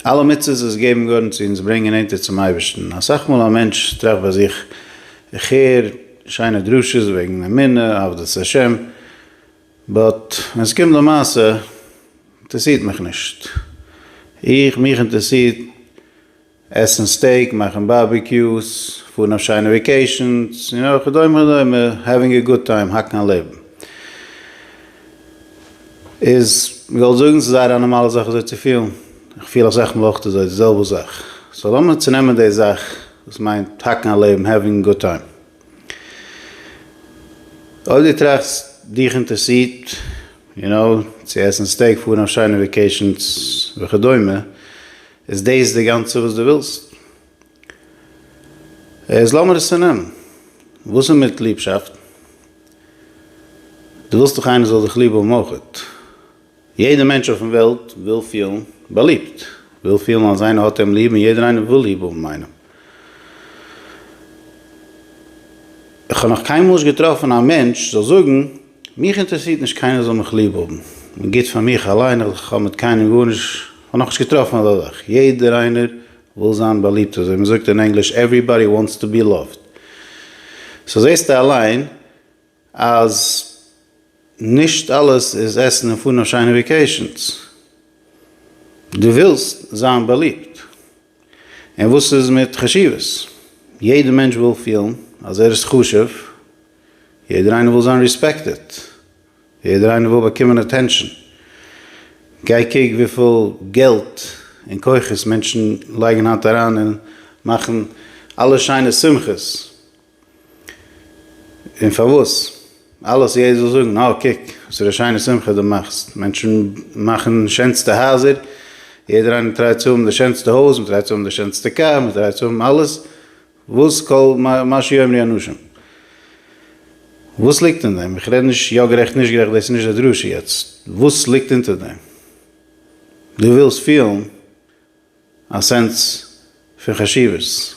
אלע מצוות וואס געבן גארן צו אונז ברענגען נענטער צום אייבערשטן, אסאך מאל א מענטש טראכט ביי זיך, איך הער שיינע דרשות וועגן אמונה, עבדות השם, באט ווען עס קומט למעשה אינטערעסירט מיך נישט, איך, מיך אינטערעסירט עסן סטעיק, מאכן בארביקיוס, פארן אויף שיינע וועקעישאנס, און אויך וכדומה וכדומה, העווינג א גוד טיים, האקן א לעבן. איז, מ'וועל זאגן ס'איז זייער א נארמאלע זאך אזוי צו פילן, איך פיל אסאך מאל אויך אזוי, די זעלבע זאך. סאו לאמיר צונעמען די זאך וואס מיינט האקן א לעבן, העווינג א גוד טיים. אויב דו טראכסט, דיך אינטערסירט, יו נאו, צו עסן סטעיק, פארן אויף שיינע וועקעישאנס וכדומה, איז דאס די גאנצע וואס דו ווילסט? איז לאמיר עס צונעמען. וואס איז מיט ליבשאפט? דו ווילסט דאך איינער זאל דיך ליב האבן אויכעט. יעדער מענטש אויפן וועלט וויל פילן באליבט, וויל פילן אז איינער האט אים ליב און יעדער איינער וויל ליב האבן איינעם. כ'האב נאך קיינמאל נישט געטראפן א מענטש זאל זאגן, מיך אינטערעסירט נישט קיינער זאל מיך ליב האבן, כ'בין גוט פאר מיך אליין, כ'האב מיט קיינעם גארנישט, כ'האב נאכנישט געטראפן אזא זאך, יעדער איינער וויל זיין באליבט, אזוי מען זאגט אין ענגליש עוועריבאדי וואנטס טו בי לאווט, סאו זעסטו אליין אז נישט אלעס איז עסן און פארן אויף שיינע וועקעישאנס, דו ווילסט זיין באליבט, און וואס איז מיט חשיבות, יעדער מענטש וויל פילן אז ער איז חשוב, יעדער איינער וויל זיין ריספעקטעד. יעדער איינער וויל באקומען אטענשאן, גיי קוק וויפיל געלט און כוחות מענטשן לייגן היינט אריין אין מאכן אלע שיינע שמחות, און פארוואס? אלעס יעדער זאל זאגן אה קוק וואס פאר א שיינע שמחה דו מאכסט, מענטשן מאכן שענסטע הייזער, יעדער איינער טרייט צו האבן די שענסטע הויז, מען טרייט צו האבן די שענסטע קאר, מען טרייט צו האבן אלעס, וואס כל מה שיאמרו לי אנשים? וואס ליגט אין דעם? איך רעד נישט יא גערעכט נישט גערעכט דאס איז נישט די דרשה יעצט. וואס ליגט אונטער דעם? דו ווילסט פילן א סענס פון חשיבות?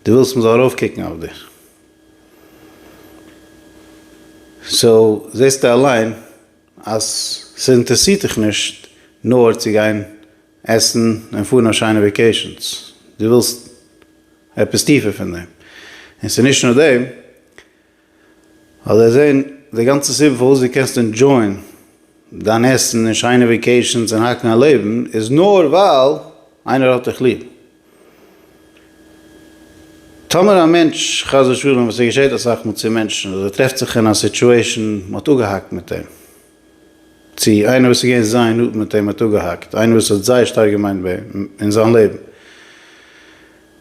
דו ווילסט מ'זאל ארויפקוקן אויף דיר? סאו זעסטו אליין אז ס'אינטערסירט דיך נישט נאר צו גיין עסן און פארן אויף שיינע וועקעישאנס, דו ווילסט עפעס טיפער פון דעם, און ס'איז נישט נאר דעם, ווייל זיי זעען די גאנצע סיבה פארוואס דו קענסט ענדזשויען דיין עסן און שיינע וועקעישאנס און האקן א לעבן איז נאר ווייל איינער האט דיך ליב. טאמער א מענטש, חס ושלום, וואס ס'געשעט אסאך מאל צו מענטשן, אז ער טרעפט זיך אין א סיטשועישאן, מ'האט אפגעהאקט מיט אים, צו איינער וואס איז געווען זייער נאנט מיט אים האט אפגעהאקט, איינער וואס האט זייער שטארק געמיינט ביי אים אין זיין לעבן.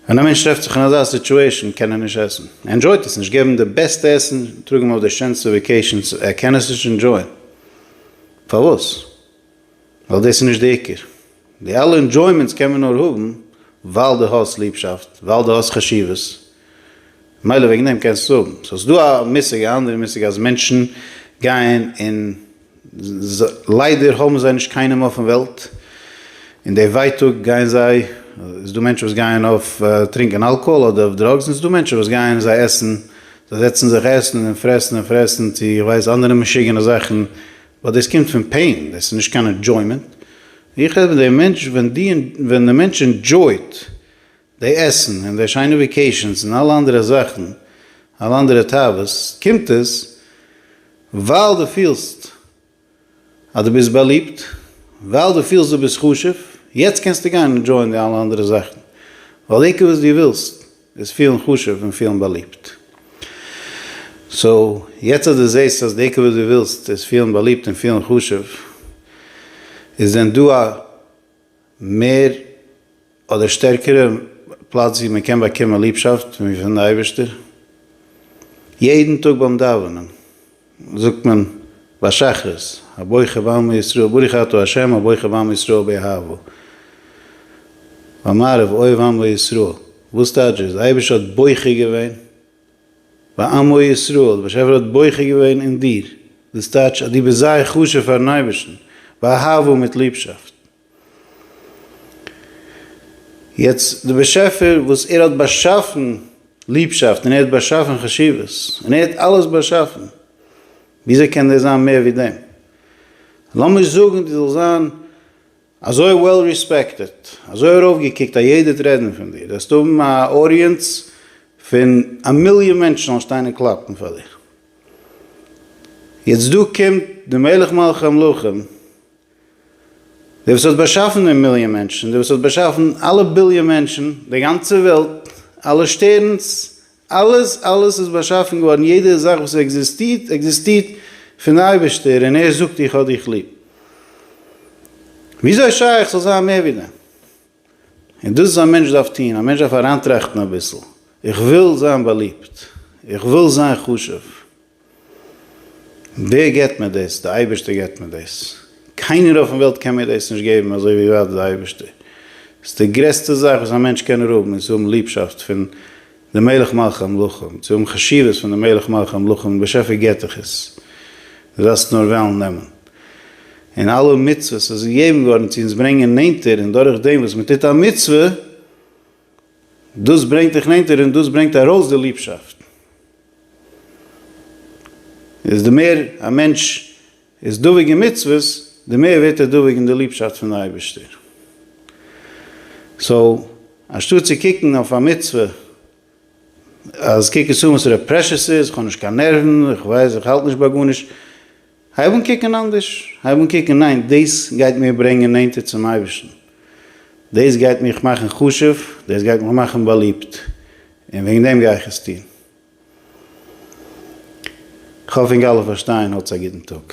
ווען א מענטש טרעפט זיך אין אזא סיטועשאן קען ער נישט עסן, ער ענדשויט עס נישט, געב אים די בעסטע עסן, טראג אים אויף די שענסטע וועקעישאנס, ער קען עס נישט ענדשויען. פארוואס? ווייל דאס איז נישט די עיקר. די אלע אינדזשוימענטס קען מען נאר האבן ווייל דו האסט ליבשאפט, ווייל דו האסט חשיבות, מילא וועגן דעם קענסטו עס האבן. סאו ס'איז דא א מושג, א אנדערע מושג אז מענטשן גייען און ליידער האבן זיי נישט קיינעם אויפן וועלט, און די ווייטאג גייען זיי, איז דא מענטשן וואס גייען אויף טרינקען אלקאהאל אדער אויף דראגס, און ס'איז דא מענטשן וואס גייען זיי עסן, זיי זעצן זיך עסן און פרעסן און פרעסן צו איך ווייס אנדערע משוגענע זאכן ווייל דאס קומט פון פעין, דאס איז נישט קיין אינדזשוימענט, איך רעד פון די מענטש ווען די ווען די מענטש אינדזשויט די עסן און די שיינע וועקעישאנס און אלע אנדערע זאכן, אלע אנדערע תאוות, קומט עס ווייל דו פילסט אז דו ביסט באליבט, ווייל דו פילסט דו ביסט חשוב, יעצט קענסטו גיין אינדזשויען די אלע אנדערע זאכן, ווייל עיקר וואס דו ווילסט איז פילן חשוב און פילן באליבט. סאו יעצט אז דו זעסט אז די עיקר וואס דו ווילסט איז פילן באליבט און פילן חשוב, איז דען דא א מער אדער שטערקערע פלאץ ווי מען קען באקומען ליבשאפט ווי פון די אייבערשטער? יעדן טאג ביים דאווענען. זאגט מען ביי שחרית, הבוחר בעמו ישראל ברוך אתה ה' הבוחר בעמו ישראל באהבה. ביי מעריב אוהב עם וישראל, וואס טייטש דאס? די אייבערשטער האט בוחר געווען בעמו ישראל, די באשעפער האט בוחר געווען אין דיר, דאס טייטש אז דו ביסט זייער חשוב פארן אייבערשטן, באהבה מיט ליבשאפט. יעצט די באשעפער וואס ער האט באשאפן ליבשאפט און ער האט באשאפן חשיבות און ער האט אלעס באשאפן וויאזוי קען דער זיין מער ווי דעם? לאמיר זאגן דו זאלסט זיין אזוי וועל ריספעקטעד אזוי ארויפגעקוקט אז יעדער וועט רעדן פון דיר וועסטו האבן א אודיענץ פון א מיליאן מענטשן זאלן שטיין און קלאפן פאר דיר יעצט דא קומט די מלך מלכי המלכים דער וואס האט באשאפן די מיליאן מענטשן, דער וואס האט באשאפן אלע ביליאן מענטשן, די גאנצע וועלט, אלע שטערנס, אלעס אלעס איז באשאפן געווארן, יעדע זאך וואס עקזיסטירט, עקזיסטירט פון אייבערשטער, און ער זאגט איך האב דיך ליב. וויאזוי שייך ס'זאל זיין מער ווי דעם? און דאס איז א מענטש דארף טון, א מענטש דארף אריינטראכטן אביסל, איך וויל זיין באליבט, איך וויל זיין חשוב. ווער געבט מיר דאס? די אייבערשטער געבט מיר דאס. קיינער אויפן וועלט קען מיר דאס נישט געבן אזוי ווי ווייט די אייבערשטער. ס'איז די גרעסטע זאך וואס א מענטש קען האבן איז צו האבן ליבשאפט פון די מלך מלכי המלכים, צו האבן חשיבות פון די מלך מלכי המלכים, די באשעפער געבט דיך עס, דו דארפסט נאר וועלן נעמען. און אלע מצוות איז געגעבן געווארן צו אונז ברענגען נענטער, און דורך דעם וואס מ'טוט א מצוה, דאס ברענגט דיך נענטער און דאס ברענגט ארויס די ליבשאפט. איז די מער א מענטש איז דבוק אין מצוות, די מער ווערט ער דבוק אין די ליבשאפט פון די אייבערשטער. סאו, אנשטאט צו קוקן אויף א מצוה אז קוק עס אן וואס ר' פרעשור ס'איז, איך האב נישט קיין נערוון, איך ווייס, איך האלט נישט ביי גארנישט, הייב אן קוקן אנדערש, הייב אן קוקן ניין דאס גייט מיר ברענגען נענטער צום אייבערשטן, דאס גייט מיך מאכן חשוב, דאס גייט מיך מאכן באליבט, און וועגן דעם גיי איך עס טון. כ'האף אונג אלע פארשטייען, האטס א גוטן טאג.